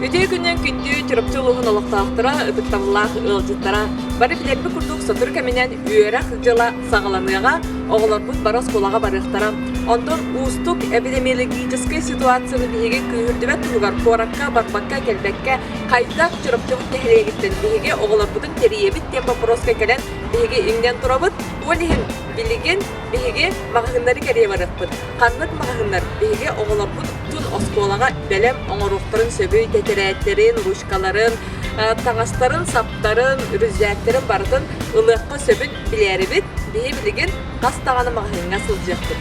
Ити күннэн күндү Чурапчы улуһун олохтоохторо, ытыктабыллаах ыалдьыттара, бары билэрбит курдук сотору кэминэн үөрэх дьыла саҕаланыаҕа, оҕолорбут бары оскуолаҕа барыахтара. Онтон уустук эпидемиологическай ситуацияны биһиги күүһүрдүбэт туһугар куоракка, барбакка, кэлбэккэ хайдах Чурапчыбыт нэһилиэгиттэн биһиги оҕолорбутун тэрийэбит диэн боппуруоска кэлэн биһиги иҥнэн турабыт. Ол иһин Билигин биһиги маҕаһыыннары кэрийэ барыахпыт. Ханнык маҕаһыыннар биһиги оҕолорбут тун оскуолаҕа бэлэм оҥоруохтарын сөбүй, тэтэрээттэрин, ручкаларын, таҥастарын, саптарын, үрүзээктэрин барытын ылыахха сөбүн билээрибит. Биһи билигин хас даҕаны маҕаһыыҥҥа сылдьыахпыт.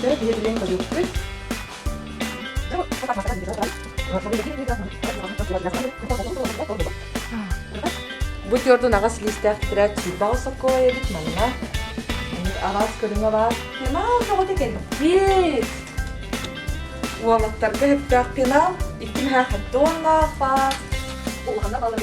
Сөп, биһиэхэ билиэн көрүөхпүт. Бу төрдүн аҕас лиистээх тирээт сүүрбэҕэ сокула эбит манна. Аваас көрүҥэ баар. Пенал көҕүтэ кэлбит. Уолаттарга сөптөөх пенал икки мөһө хатоннаах баар. Улахана балар.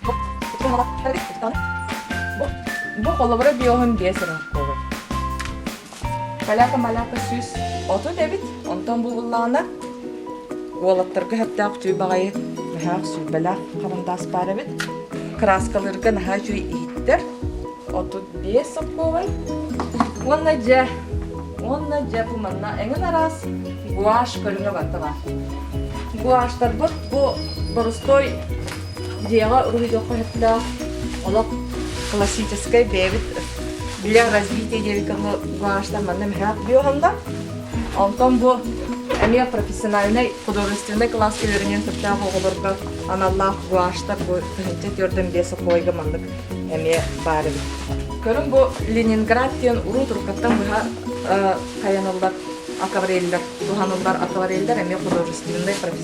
Бу, бу холобура биоһун биэс өрөмхковой. Каляка маляка сүүс отут эбит, онтон булуллаана. Уолаттарга хаттаах түү баҕайы наһаах сүүбэлээх харандаас баар эбит. Краскаларга наһаа үчүгэй иһиттэр. Отут биэс сопковай. Уонна дьэ, уонна дьэ бу манна эҥин араас гуашь көрүҥэ барталаа. Гуаштарбыт бу борустой Дьиэҕэ уруһуйдуохха сөптөөх олох классическай бэйэбит били развитие диэки кылы уганаштан манна мыһаат биоһонда. Онтон бу эмиэ профессиональнай художественнай кылааска үөрэнэн сөптөөх оҕолорго аналлаах гуаштар бу тыһынча түөрдэн биэс оkolойга маннык эмиэ баар эбит. Көрүҥ бу Ленинград диэн уруу турукаттан быһа хайаналлар аквареллер, туһаныллар аквареллер эмиэ художественнай, профессиональнай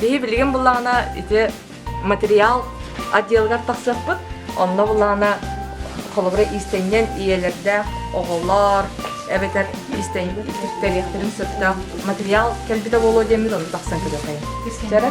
Биһи билигин буллаҕына ити материал отделыгар тахсыахпыт, онно буллаҕына холобура иистэнньэн ийэлэрдээх оҕолор эбэтэр истэриэхтэрин сөптөөх материал кэлбитэ буолуо диэммит ону тахсан көрүөххэ. Кэрэ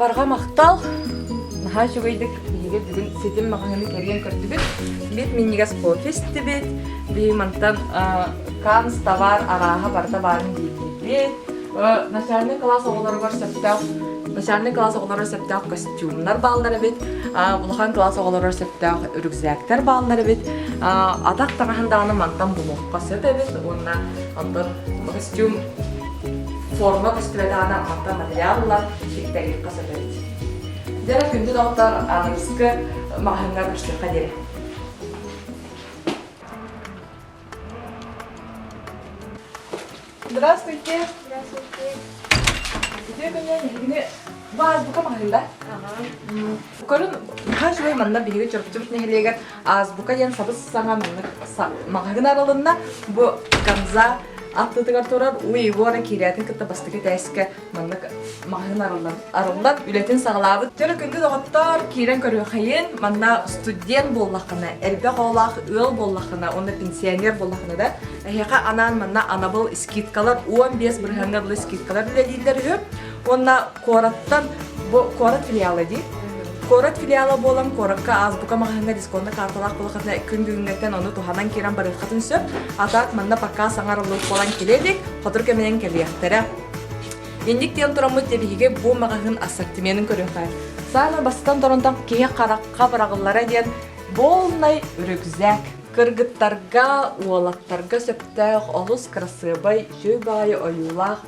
Барҕа махтал. Наһаа үчүгэйдик биһиги бүгүн ситим маҕаһыыны кэрийэн көрдүбүт. Бит минньигэс кофе истибит. Биһи мантан Канс товар арааһа барыта баарын диэтибит. Начальный класс оҕолоругар сөптөөх начальный класс оҕолоругар сөптөөх костюмнар бааллар эбит. Улахан класс оҕолоругар сөптөөх үрүкзээктэр бааллар эбит. Атах таҥаһын даҕаны мантан булуохха сөп эбит уонна оттон костюм форма көстүбэт аана мантан материал ылар, ситтэгиэххэ сөп эбит. Дьэ, күндү доктор, анализка маһыҥҥа көстүөххэ диэри. Здравствуйте. Здравствуйте. Үтүө күнүн биһигини бу ааспыта маһында. Көрүн, наһаа үчүгэй манна биһиги Чорбучумс нэһилиэгэр Азбука диэн сабыс-саҥа муннук маҕаһыын аралынна. Бу Канза аттытыгар турар Уйгура киирээтин кытта бастакы тээскэ маннык маҕаһыын арыллан арыллан үлэтин саҕалаабыт. Төлө күндү доҕоттор, киирэн көрүөхэйин. Манна студент буоллаххына, элбэх оҕолоох ыал буоллаххына, онно пенсионер буоллаххына да, эһиэхэ анаан манна анабыл скидкалар 15 бырыһыанга дылы скидкалар үлэлииллэр үһү. Уонна Куораттан бу куорат филиала дии. Куорат филиала буолан куоракка азбука маҕаһыыҥҥа дисконта карталаах буолаххытына күн бүгүҥҥэттэн ону туһанан киирэн барыаххытын сөп. А так манна пока саҥарыллыбыт буолан кэлиэ дик, хотур кэминэн кэлиэхтэрэ. Инник диэн тураммыт тиэбиһигэ бу маҕаһыын ассортименын көрүөххэ. Саана бастан торонтон киһи харахха быраҕыллара диэн болнай үрүкзэк. Кыргыттарга, уолаттарга сөптөөх олус кырасыабай, сүй баайы ойуулаах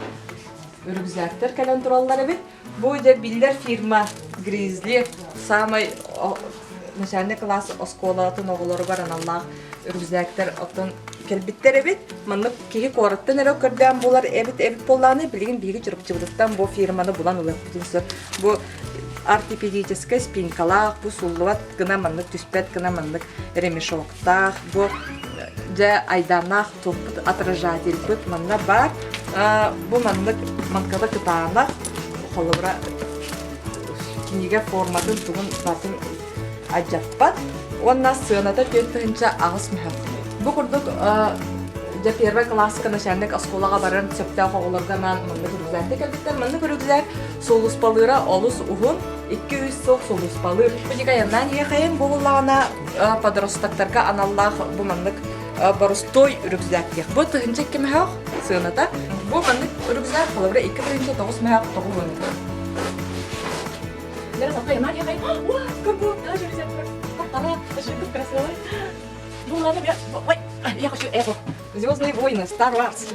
рюкзактар кэлэн тураллар эбит. Бу дьэ биллэр фирма Grizzly саамай начальный класс оскуолатын оҕолоругар аналлаах рюкзактар оттон кэлбиттэр эбит. Маннык киһи куораттан эрэ көрдөөн булар эбит эбит буоллааны билигин биһиги Чурапчыбытыттан бу фирманы булан ылыппытын сөп. Бу артипедическай спинкалаах, бу суллубат гына маннык түспэт гына маннык ремешок. таах бу дьэ айдааннаах туппут отражательбыт манна бар бу маннык манкада кытаанах холобура кинигэ форматын тугун батын адьаппат уонна сыаната түөрт тыһынча аҕыс мөһөк бу курдук дьэ первый классика начальник оскуолаҕа баран сөптөөх оҕолорго анаан маннык үргүлээттэ кэлбиттэр маннык үргүлээр Сулууспалыыра олус уһун, икки-үс суох сулууспалыыр. Дьикайаннаан иэхэйин булулаҕына, подростоктарга аналлаах бу маннык борустуой рюкзак диэх. Бу тыһынча икки мөһөх сыаната. Бу маннык рюкзак халабра икки тыһынча тоҕус мөһөх тоҕулунна. Лера, такая маленькая. Ой, как будто даже рюкзак. Она жиркая красивая. Ну, ладно, я... Ой, я хочу эту. Звездные войны, Star Wars.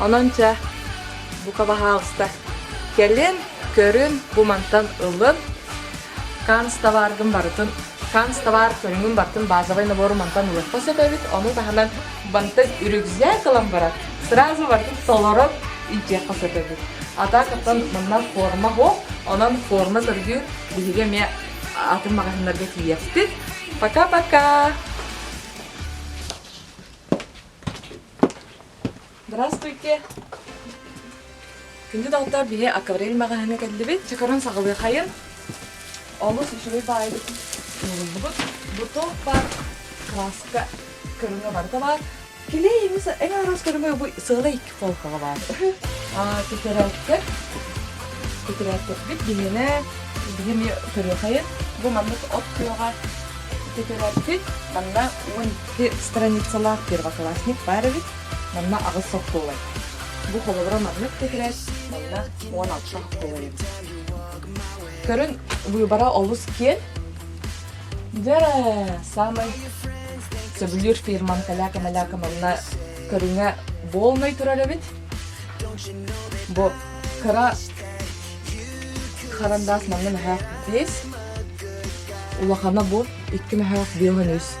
Онон чэ, бука баһаалыста, кэлин, көрүн, бу мантан ылын. Канц табааргын барытын, канц табаар көрүҥүн бартын базовый набору мантан ылыахха сөп эбит. Ону таһынан бантан үрүгзэк ылан баран, сразу бартын толорон илдьиэххэ сөп эбит. Атаакаттан манна форма хоп, онон форма көргү биһиги эмиэ атын магазиннарга тиийэхпит. Пока-пока! Здравствуйте! Күндү доҕоттор, биһи Акварель маҕаһыына кэллибит. Чакырын саҕалыахайын. Олус үчүгэй баайбыт ууруллубут. Буток бар, краска көрүҥэ барыта бар. Килей эмис эҥ арас көрүҥэ бу сыала икки холкаҕа бар. А тетрадка тетрадкабыт биһиэнэ биһи эмиэ көрүөхайын. Бу маннык от күөҕэ тетрадкы манна уон Ити страницалаах первоклассник баар эбит, манна аҕыс солкуобай. Бу холобура маннык титирэр, манна уон алта солкуобай эбит. Көрүн, выбора олус киэн. Дьэ, самый сөбүлүүр фирмам каляка-маляка манна көрүҥэ болнай турар эбит. Бу кыра харандаас манна мөһөх 5, улахана бу 2 мөһөх 1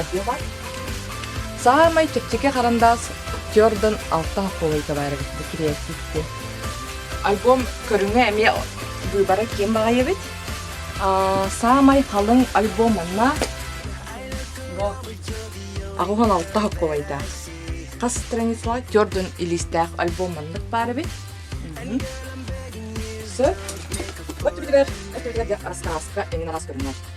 Атыылар Саамай чэпчэки харандаас Jordan алта холойга баара бит креативти. Альбом көрүҥэ эмиэ быыбара ким баҕайыбыт? Саамай халыҥ альбом манна Аҕуһун алта холойда. Хас страница Jordan илиистээх альбом маннык баара бит. Сөп. Вот битигэр рассказка именно раз көрүҥэр.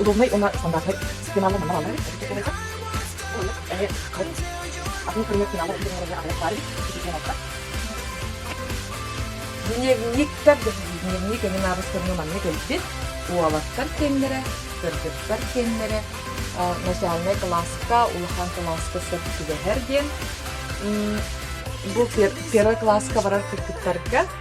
удобнай уонна стандартнай финалга номер аллар атын пулемет финалы игерилерге аҕалларын ситиһиэҕэ дневниктар дневник эҥин аабыстарына манна кэлбит уолаттар киэннэрэ кыргыттар киэннэрэ начальнай класска улахан класска сөп түбэһэр диэн бу первый класска барар кыргыттарга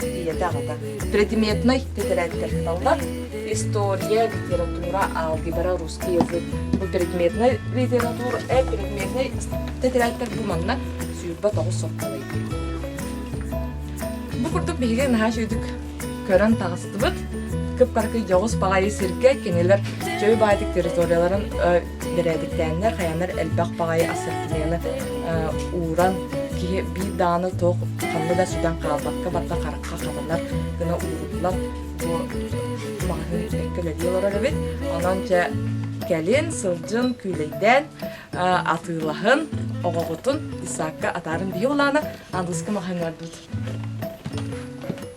тиийэтэ аҕата предметнай тэтэрээттэрталлар история литература алгебра русский язык бу предметнай литература э предметнай тэтэрээттэр бу манна сүүрбэ тоҕус сотталый бу курдук биһиги наһаа сүйдүк көрөн таҕыстыбыт кыппаркы дьоҕус баҕайы сиргэ кинилэр чөй баайтык территорияларын Бэрээдэктээннэр хайанар элбэх баҕайы ассортимены ууран киһи биир дааны туох ханна да сүгэн хаалбакка барда харахха хатанар гына ууруллар бу маҕаһыын эккэлэдии олорор эбит онон чэ кэлин сылдьын күүлэйдээн атыылаһын оҕоҕутун Исаакка атаарын биһи улаана Андыска маһыҥардыт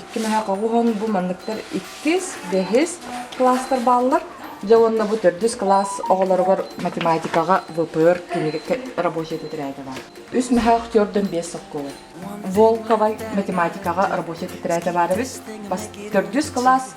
Икки наһаа хоҕуһан бу манныктар иккис, бэһис класстар бааллар. Дьэ уонна бу төрдүс кылаас оҕолоругар математикаҕа ВПР кинигэ рабочая тетради баар. Үс наһаа төрдөн биэс солкуола. Волковай математикаҕа рабочая тетради баар эбит. Төрдүс кылаас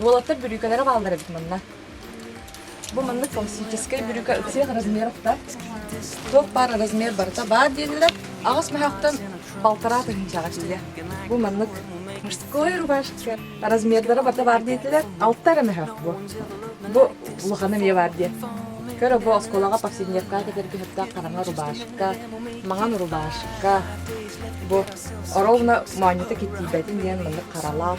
Уолаттар бүрүүкэлэрэ бааллар эбит манна. Бу маннык классическай бүрүүкэ ыксыах размер охта. Туох баар размер барыта баар диэнилэр аҕыс мөһөхтөн балтараа тыһыынчаҕа тиийэ. Бу маннык мужское рубашка размердара барыта баар диэтилэр алта эрэ мөһөх бу. Бу улахан эмиэ баар диэ. Көрө бу оскуолаҕа повседневка кэтэр көһөрдөөх хараҥа рубашка, маҥан рубашка. Бу ровно моонньута киттийбэтин диэн маннык харалаах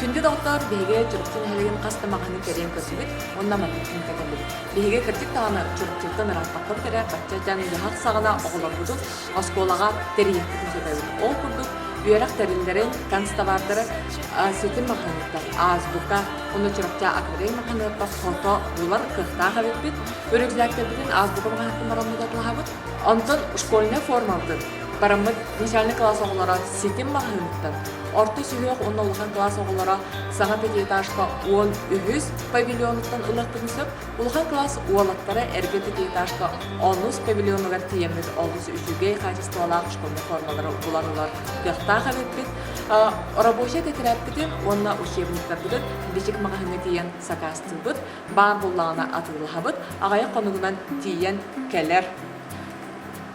Күндү доҕоттор, биһиги Чурапчы нэһилигин хас да маҕаһыынын кэрийэн көрдүбүт уонна манныккын кэтэллибит. Биһиги кырдьык даҕаны Чурапчыттан ырааппаппыт эрэ бачча дьон дьаһах саҕана оҕолорбутун оскуолаҕа тэрийиэхпит мөкөтөбүт. Ол курдук үөрэх тэриллэрин, констовардары ситим маҕаһыыныттан, азбука уонна Чурапчы акварель маҕаһыыныттан фото булар кыахтаах эбиппит. Өрүкүзээктэрбитин азбука маҕаһыынтан баран мутатылаһабыт. Онтон школьнай формабытын Бараммыт начальник кылаас оҕолоро ситим маһыһыттан орто сүһүөх уонна улахан кылаас оҕолоро саҥа пятиэтажка уон үһүс павильонуттан ылыахпытын сөп улахан кылаас уолаттара эргэ пятиэтажка онус павильонугар тиийэммит олус үчүгэй хаачыстыбалаах школьнай формалары булан ылар кыахтаах эбиппит рабочай тэтэрээппитин уонна учебниктарбытын бичик маҕаһыыҥҥа тиийэн сакаастыыбыт баар буоллаҕына атыылаһабыт аҕайах хонугунан тиийэн кэлэр